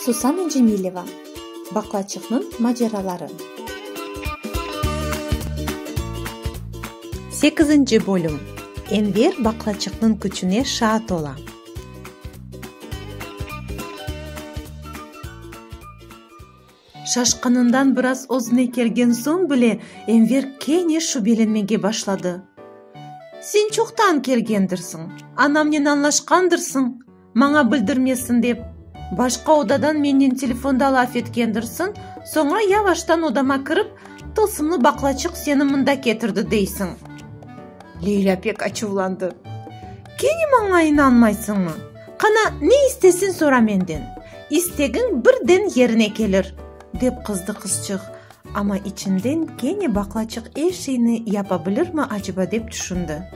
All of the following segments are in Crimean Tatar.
Susana Cemileva, Baqlaçıqnıñ maceraları. Sekizinci bölüm Enver baqlaçıqnıñ küçüne şaat ola. Şaşqınından biraz özüne kelgen soñ bile Enver kene şübelenmege başladı. Sen çoqtan kelgendirsiñ, anamnen añlaşqandırsıñ, maña bildirmesin dep, başqa odadan mennen telefonda laf etkendirsiñ, soñra yavaştan odama kirip, tılsımlı baqlaçıq seni mında ketirdi deysiñ. Leylâ pek açuvlandı. Kene maña inanmaysıñmı? Qana, ne istesin sora menden, istegiñ birden yerine kelir, dep qızdı qızçıq, amma içinden kene baqlaçıq er şeyni yapa bilirmi aceba dep tüşündi.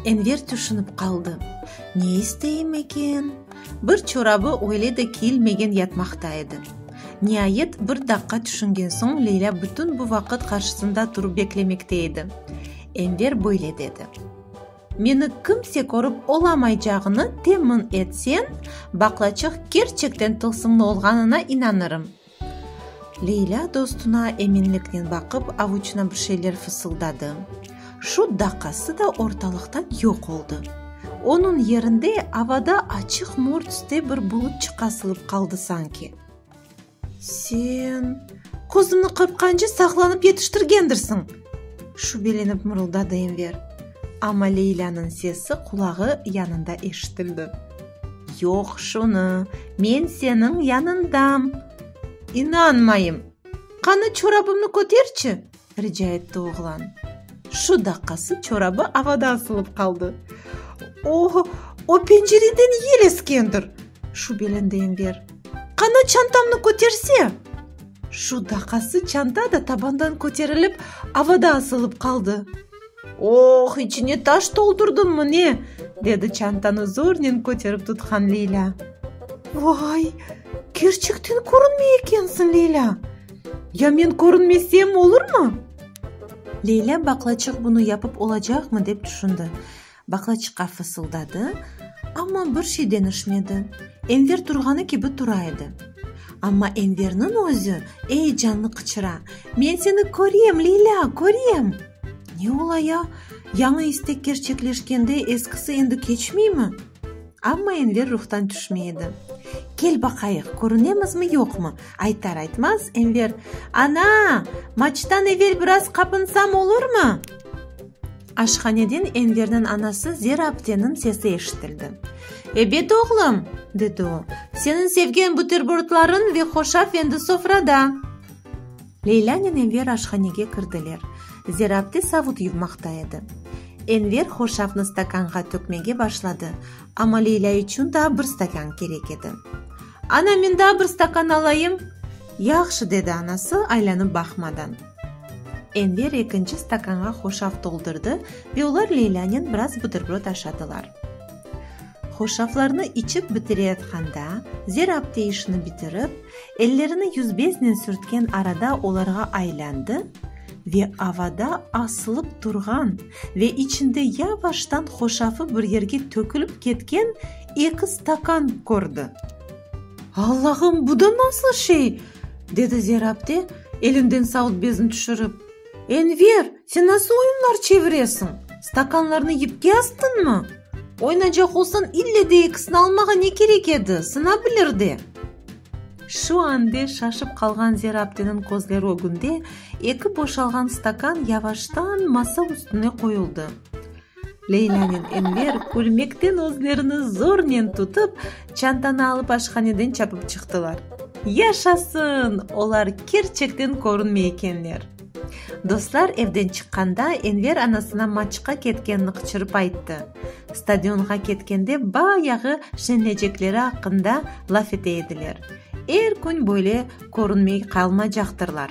Enver tüşünip qaldı, ne isteyim eken? Bir çorabı öyle de kiyilmegen yatmaqta edi. Niayet bir daqqa tüşüngen soñ Leylâ bütün bu vaqıt qarşısında turıp beklemekte edi. Enver böyle dedi. Meni kimse körip olamaycağını temin etsen, baqlaçıq kerçekten tılsımlı olğanına inanırım. Leylâ dostuna eminliknen baqıp, avuçına bir şeyler fısıldadı. Şu daqası da ortalıqtan yoq oldı. Onıñ yerinde avada açıq murt üste bir bulut çıqasılıp qaldı sanki. Sen qozunı qırqqance saqlanıp yetiştirgendirsiñ! şübelenip mırıldadı Enver. Amma Leylânıñ sesi qulağı yanında eşitildi. Yoq, şunı, men seniñ yanıñdam! İnanmayım! Qanı, çorabımnı köterçi! Rica etti oğlan. Şu daqqası çorabı avada asılıp qaldı. O, o pencereden yel eskendir! şübelendi Enver. Qana çantamnı köterse! Şu daqqası çanta da tabandan köterilip, avada asılıp qaldı. Oh, içine taş toldurdımı ne? dedi çantanı zornen köterip tutqan Leylâ. Vay, kerçekten körünmey ekensiñ, Leylâ! Ya men körünmesem olurmı? Leylâ baqlaçıq bunı yapıp olacaqmı dep tüşündi. Baqlaçıqqa fısıldadı, amma bir şey deñişmedi. Enver turğanı kibi tura edi. Amma Enverniñ özü eyecanlı qıçıra, Men seni körem, Leylâ, körem! Ne ola ya? Yañı istek kerçekleşkende eskisi endi keçmeymi? Amma Enver ruhtan tüşmey edi. Kel baqayıq, körünemizmi, yoqmı? Aytar-aytmaz, Enver, Ana! Maçtan evel biraz qapınsam olurmı? Aşhaneden Enverniñ anası Zera apteniñ sesi eşitildi. Ebet, oğlum, dedi o, seniñ sevgen buterbordlarıñ ve hoşafendi sofrada. Leylânen Enver aşhanege kirdiler. Zerabde savut yuvmaqta edi. Enver hoşafnı stakanğa tökmege başladı, amma Leylâ içün daa bir stakan kerek edi. Ana, men daa bir stakan alayım! Yahşı, dedi anası, aylanıp baqmadan. Enver ekinci stakanğa hoşaf toldurdı ve olar Leylânen biraz buterbrod aşadılar. Hoşaflarnı içip bitireyatqanda, zerab teyişni bitirip, ellerini yüzbeznen sürtken arada olarğa aylandı ve avada asılıp turğan ve içinde yavaştan hoşafı bir yerge tökülip ketken eki stakan kördi. Allahım, bu da nasıl şey? dedi zerab te, elinden sautbezin tüşürip. Enver, sen nasıl oyunlar çeviresiñ? Stakanlarnı yipke astıñmı? Oynaycaq olsañ, ille de ekisini almağa ne kerek edi, sınabilir de. Şu ande şaşıp qalğan Zerabdiniñ közleri ögünde eki boşalğan stakan yavaştan masa üstüne qoyuldı. Leylânen Enver külmekten özlerini zornen tutıp, çantanı alıp aşhaneden çapıp çıqtılar. Yaşasın! Olar kerçekten körünmey ekenler! Dostlar evden çıqqanda Enver anasına maçqa ketkenini qıçırıp ayttı. Stadionğa ketkende bayağı şenlecekleri aqqında laf ete ediler. Er kün böyle körünmey qalmacaqtırlar.